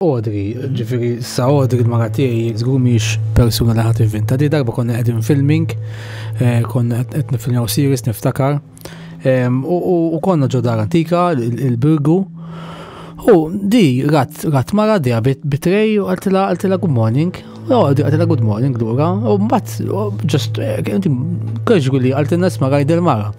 Audrey, ġifiri, sa Audrey l-mara tiegħi żgur mhix persuna li ħadd ivvinta. Di darba konna qegħdin filming, eh, konna qed nifilmaw series niftakar. U konna ġo dar antika, il-birgu. U di rat rat mara di bitrej u għaltila għaltila good morning. U għaltila good morning lura. U mbagħad ġust eh, kieġru li għaltilna sma rajd il-mara.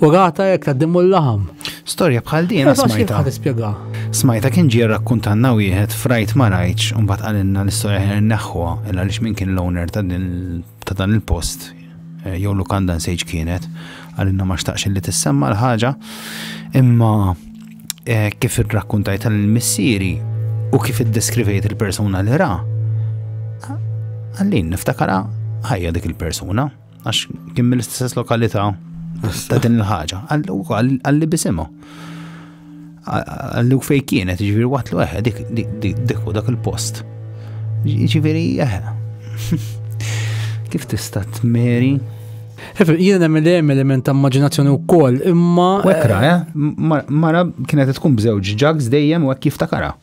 U rata jekk taddimu l-laħam. Storja bħal din eh, smajta. Tispjega. Smajta kien ġie rakkuntanna wieħed frajt ma rajtx u mbagħad qalilna l-istorja ħin neħħuha il għaliex min kien l-owner ta' dan il-post eh, jew lukanda nsejġ kienet għalilna ma xtaqx li tissemma l-ħaġa imma eh, kif irrakkuntajt tal-missieri u kif iddeskrivejt il-persuna li ra għallin niftakara ħajja dik il-persuna. għax kien mill-istess lokalità ta' din il-ħaġa, għalli bisimu. Għallu fej kienet, ġiviri waqt l eħe, dik, dik, dik, dik, dak il-post. Ġiviri eħe. Kif tista' tmeri? Jien hemm li hemm element ta' immaġinazzjoni wkoll, imma. Wekra, eh? Mara kienet tkun bżewġ ġags dejjem u hekk jiftakara.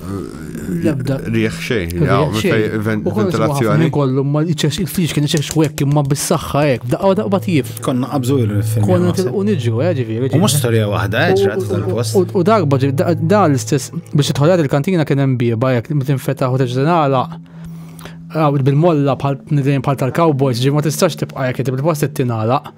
Lebda. Riħ xejn, ventilazzjoni. Kollu, ma il-friġ kien iċeċ xwek imma bis-saxħa ek, daqqa daqqa tjif. Konna qabżu il-film. Konna tilqu niġu, eh, ġifiri. U mux storja wahda, eh, ċrat tal-post. U darba ġib, da l-istess, biex tħolad il-kantina kien hemm bieba jek, mitin fetaħ u teġdenala. Bil-molla bħal tal-cowboys, ġi ma tistax tibqa jek, bil-post t-tinala.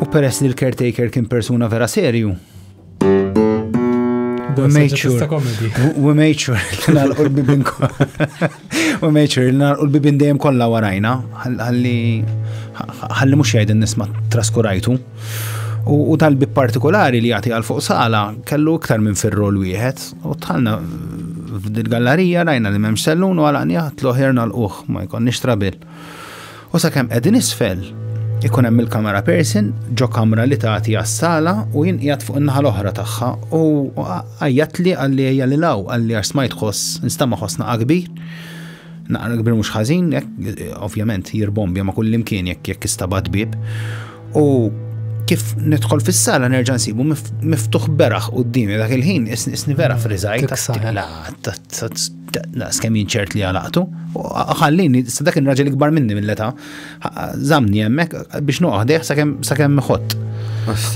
U peress li l-caretaker kien persuna vera serju, We made sure. We made sure li nalqu l-bibin We made sure li nalqu l-bibin dejjem kollha warajna. Ħalli ħalli mhux jgħid nisma' traskurajtu. U tal-bib partikolari li jagħti għal fuq sala kellu iktar minn fir-rol wieħed u tħallna f'dil gallarija rajna li m'hemmx sellun u għalaqni ħadd l-oħer nal-uħ ma jkollniex trabil. U sakemm qegħdin isfel, ikun hemm il-kamera person ġo kamra li tagħti għas-sala u jien qiegħed fuq in-naħa l-oħra tagħha u għajjatli għalli ejja lil hawn għalli għax smajt ħoss nistama' ħoss naqa' kbir. Naqra kbir mhux ħażin, ovvjament jirbombja ma' kull imkien jekk jekk istabat bib. U kif nidħol fis-sala nerġa' nsibu miftuħ beraħ qudiemi dak il-ħin isni vera friżajt. Daqs kemm jien ċert li għalaqtu, ħallini, sa dak il-raġel ikbar minni mill-età, zamni hemmhekk biex noqgħodih sakemm ħott.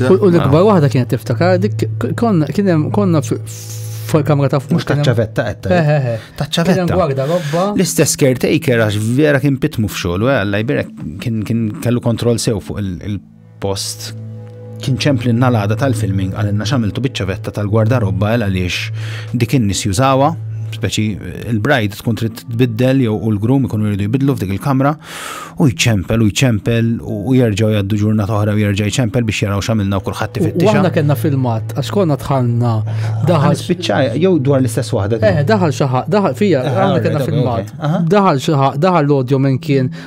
U l-ikbar waħda kienet tiftakar dik konna fil-kamra ta' fuq. Mux taċċavetta għetta. Eh, eh, eh. Taċċavetta. Gwarda robba. L-istess caretaker għax vera kien pitmu f'xogħol, għalla jbirek kien kellu kontroll sew fuq il Post kien ċempli n-nalada tal-filming għalinna xamiltu biċċavetta tal-gwardarobba għal għaliex dik in-nies jużawa, speċi il-bride tkun trid tbiddel jew u l-grum ikunu jridu jbidlu f'dik il-kamra u jċempel u jċempel u jerġgħu jgħaddu ġurnata oħra u jerġa' jċempel biex jaraw x'għamilna u kulħadd ifittixa. Aħna kellna filmat għax konna tħanna daħal spiċċa jew dwar l-istess waħda. Eh, daħal xi daħal fija, eh, aħna kellna filmat. Daħal xi daħal l-odjo minn kien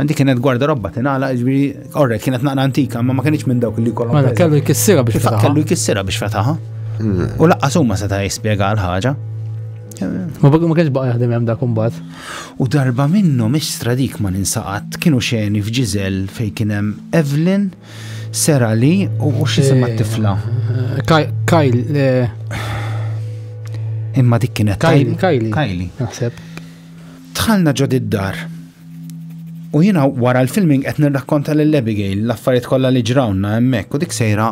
Għandi kienet gwarda robba tinala, ġbiri, orre, kienet naqra antika, ma ma kienx minn dawk li kollu. Mela, kellu jkissira biex fetaħa. Kellu jkissira biex fetaħa. Hmm. U laqqa summa seta' jispjega l-ħaġa. Ma bagħu ma kienx baqa' jaħdem hemm dak imbagħad. U darba minnu mhix stradik ma ninsaqat kienu xeni f'Ġiżel fejn kien hemm Evelyn, Sera li u xi semma eh, tifla. Eh, Kajl. Eh. Imma dik kienet Kajli. Kajli. Naħseb. Tħalna ġod id-dar. U jiena wara l-filming qed nirrakkonta lil Abigail l-affarijiet kollha li ġrawna hemmhekk u dik sejra.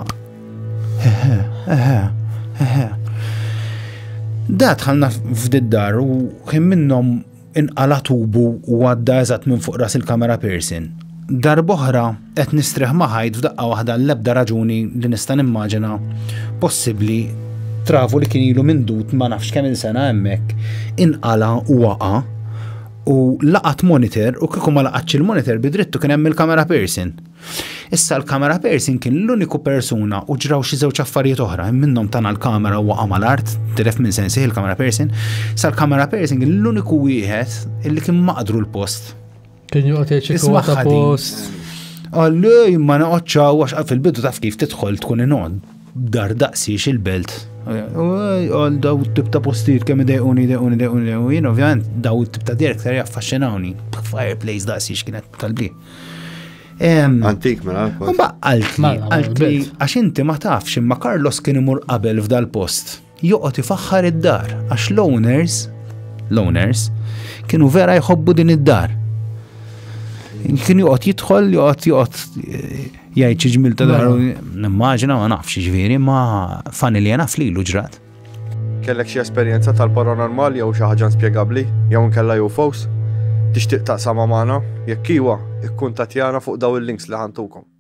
Eħe, eħe, eħe. Da tħallna f'diddar u kien minnhom inqala tubu u għadda eżatt minn fuq ras il-kamera Pearson. Darboħra qed nistrieħ maħajt f'daqqa waħda l-ebda raġuni li nista' nimmaġina possibbli travu li kien ilu mindut ma nafx kemm il-sena hemmhekk inqala u waqa' u laqat monitor u kieku ma laqatx il-monitor bidrittu kien hemm il-kamera person. Issa l-kamera person kien l-uniku persuna u ġraw xi żewġ affarijiet oħra, minnhom tana l-kamera u waqa' mal-art, tilef minn sensi il-kamera person. Issa l-kamera person kien l-uniku wieħed illi kien maqdru l-post. Kien joqgħod jgħid ta' post. Għalli ma naqgħodx għax fil-bidu taf kif tidħol tkun inod. Dar daqsiex il-belt. Għal daw tip ta' postijiet kemm idejquni, idejquni, idejquni, idejquni, ovvjament daw tip ta' direk ser jaffaxxinawni. Fireplace daqsiex kienet kalbi. Antik, mela. Ma għaltli, għaltli, għax inti ma tafx imma Carlos kien imur qabel f'dal-post. joqgħod ifaħħar id-dar għax l-owners l-owners kienu vera jħobbu din id-dar. Kien joqgħod jidħol, joqgħod joqgħod eh, jgħid xi ġmil ta' daru. Mela. Nimmaġina ma nafx ġifieri ma fani li naf lilu ġrat. Kellek xi esperjenza tal-paranormal jew xi ħaġa spjegabbli jew nkella UFOs? Tixtieq taqsama magħna? Jekk iwa, ikkuntattjana fuq daw il-links li ħantukom.